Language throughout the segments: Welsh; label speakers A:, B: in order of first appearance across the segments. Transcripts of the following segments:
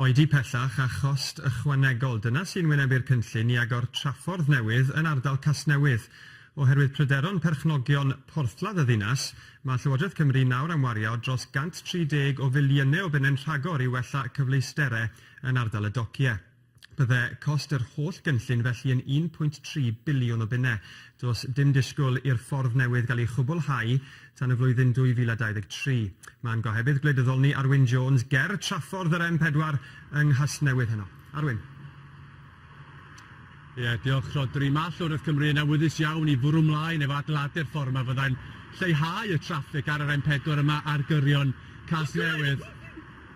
A: Oedi pellach a chost ychwanegol, dyna sy'n wynebu'r cynllun i agor traffordd newydd yn ardal Casnewydd. Oherwydd pryderon perchnogion porthladd y ddinas, mae Llywodraeth Cymru nawr am wario dros 130 o filiynnau o bunnau'n rhagor i wella cyfleusterau yn ardal y docie. Bydde cost yr holl gynllun felly yn 1.3 biliwn o bunnau. Does dim disgwyl i'r ffordd newydd gael ei chwblhau tan y flwyddyn 2023. Mae'n gohebydd gwleidyddol ni, Arwyn Jones, ger traffordd yr M4 yng Nghasnewydd heno. Arwyn. Ie, diolch Rhodri. Mae Llywodraeth Cymru yn awyddus iawn i fwrw mlaen efo adeiladu'r ffordd yma fyddai'n lleihau y traffig ar yr M4 yma ar gyrion Casnewydd.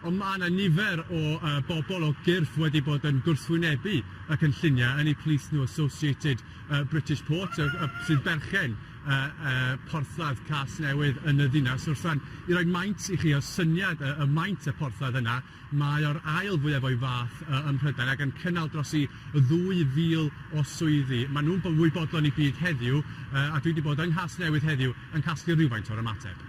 A: Ond mae yna nifer o bobl o gyrff wedi bod yn gwrthwynebu y cynlluniau, yn eu plith nhw Associated British Ports, sy'n berchen porthladd Casnewydd yn y ddinas. Wrth rŵan, i roi maint i chi o syniad y maint y porthladd yna, mae o'r ail fwyaf o'i fath ym Mhrydain ac yn cynnal dros i 2,000 o swyddi. Maen nhw'n fwy bodlon i gyd heddiw, a dwi wedi bod yng Nghasnewydd heddiw yn casglu rhywfaint o'r ymateb.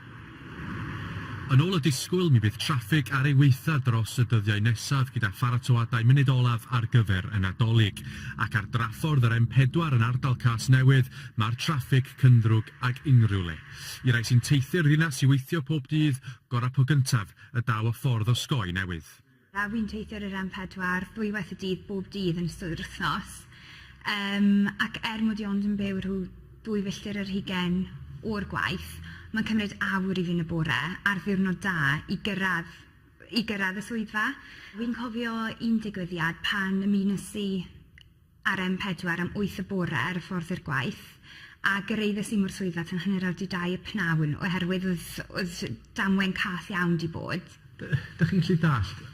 A: Yn ôl y disgwyl, mi fydd traffig ar ei waethaf dros y dyddiau nesaf gyda pharatoadau munud olaf ar gyfer y Nadolig. Ac ar draffordd yr M4 yn ardal Casnewydd, mae'r traffig cynddrwg ag unrhyw le. I rai sy'n teithio'r ddinas i weithio pob dydd, gorau po gyntaf y daw y ffordd osgoi newydd. A fi'n teithio ar yr em pedwar ddwywaith y dydd bob dydd yn ystod yr wythnos yym ac er mod i ond yn byw rhyw ddwy filltir ar hugain o'r gwaith ma'n cymryd awr i fi yn y bore ar ddiwrnod da i gyrradd i gyrradd y swyddfa. Fi'n cofio un digwyddiad pan ymunes i ar em pedwar am wyth y bore ar y ffordd i'r gwaith a gyraeddes i mor llwyddiant yn hanner awr 'di dau y pnawn oherwydd oedd oedd damwain cath iawn 'di bod. D- dych chi'n gallu dallt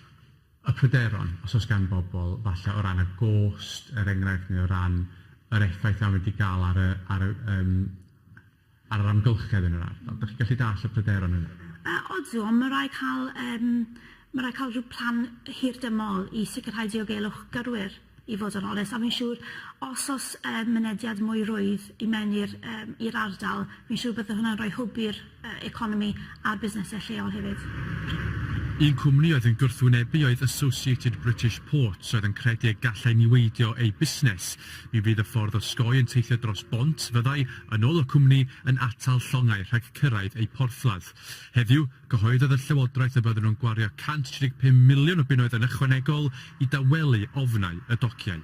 A: y pryderon os oes gan bobl falle o ran y gost er enghraifft neu o ran yr effaith a mae 'di gael ar y ar y yym ar yr amgylchedd yn yr ardal. Dach chi'n gallu dallt y pryderon yna? Yy odw, ond ma' raid ca'l yym ma' raid ca'l ryw plan hirdymol i sicrhau diogelwch gyrwyr i fod yn onest a fi'n siŵr os o's yym mynediad mwy rwydd i mewn i'r yym i'r ardal fi'n siŵr bydde hwnna'n roi hwb i'r yy economi a'r busnese lleol hefyd. Un cwmni oedd yn gwrthwynebu oedd Associated British Ports oedd yn credu y gallai niweidio eu busnes Mi fydd y ffordd osgoi yn teithio dros bont fyddai, yn ôl y cwmni, yn atal llongau rhag cyrraedd eu porthladd. Heddiw, cyhoeddodd y llywodraeth y bydden nhw'n gwario 135 miliwn o bunnoedd yn ychwanegol i dawelu ofnau y dociau.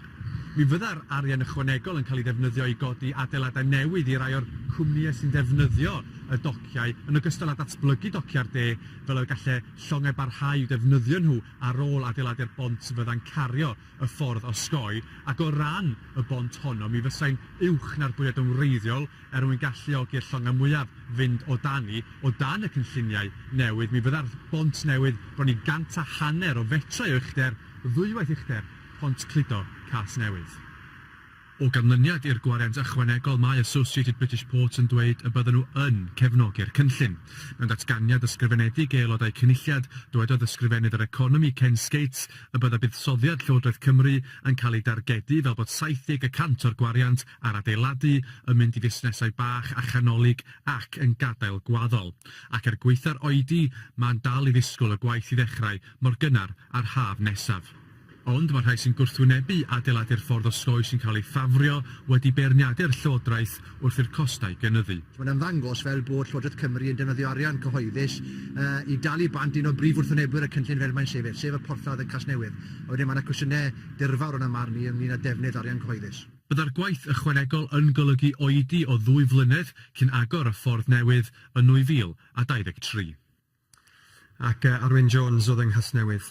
A: Mi fydda'r arian ychwanegol yn cael ei ddefnyddio i godi adeiladau newydd i rai o'r cwmnïau sy'n defnyddio y dociau, yn ogystal â datblygu dociau'r de fel y gallai llongau barhau i'w defnyddio nhw ar ôl adeiladu'r bont fyddai'n cario y ffordd osgoi, ac o ran y bont honno, mi fysai'n uwch na'r bwriad yn wreiddiol er mwyn galluogi'r llongau mwyaf fynd o dani. O dan y cynlluniau newydd, mi fydda'r bont newydd bron i gant a hanner o fetrau o uchder, ddwywaith uchder Pont Cludo Casnewydd. O ganlyniad i'r gwariant ychwanegol, mae Associated British Ports yn dweud y bydden nhw yn cefnogi'r cynllun. Mewn datganiad ysgrifenedig i Aelodau Cynulliad, dywedodd Ysgrifennydd yr Economi, Ken Skates, y bydda buddsoddiad Llywodraeth Cymru yn cael ei dargedu fel bod 70 y cant o'r gwariant ar adeiladu yn mynd i fusnesau bach a chanolig ac yn gadael gwaddol. Ac er gwaetha'r oedi, mae'n dal i ddisgwyl y gwaith i ddechrau mor gynnar â'r haf nesaf. Ond mae rhai sy'n gwrthwynebu adeiladu'r ffordd osgoi sy'n cael ei ffafrio wedi beirniadu'r Llywodraeth wrth i'r costau gynyddu. Mae'n ymddangos fel bod Llywodraeth Cymru yn defnyddio arian cyhoeddus i dalu bant un o brif wrthwynebwyr y cynllun fel mae'n sefyll, sef y porthladd yn Casnewydd, a wedyn mae yna cwestiynau dirfawr yn 'y marn i ynglŷn â defnydd arian cyhoeddus. Byddai'r gwaith ychwanegol yn golygu oedi o ddwy flynedd cyn agor y ffordd newydd yn 2023. Ac Arwyn Jones oedd yng Nghasnewydd.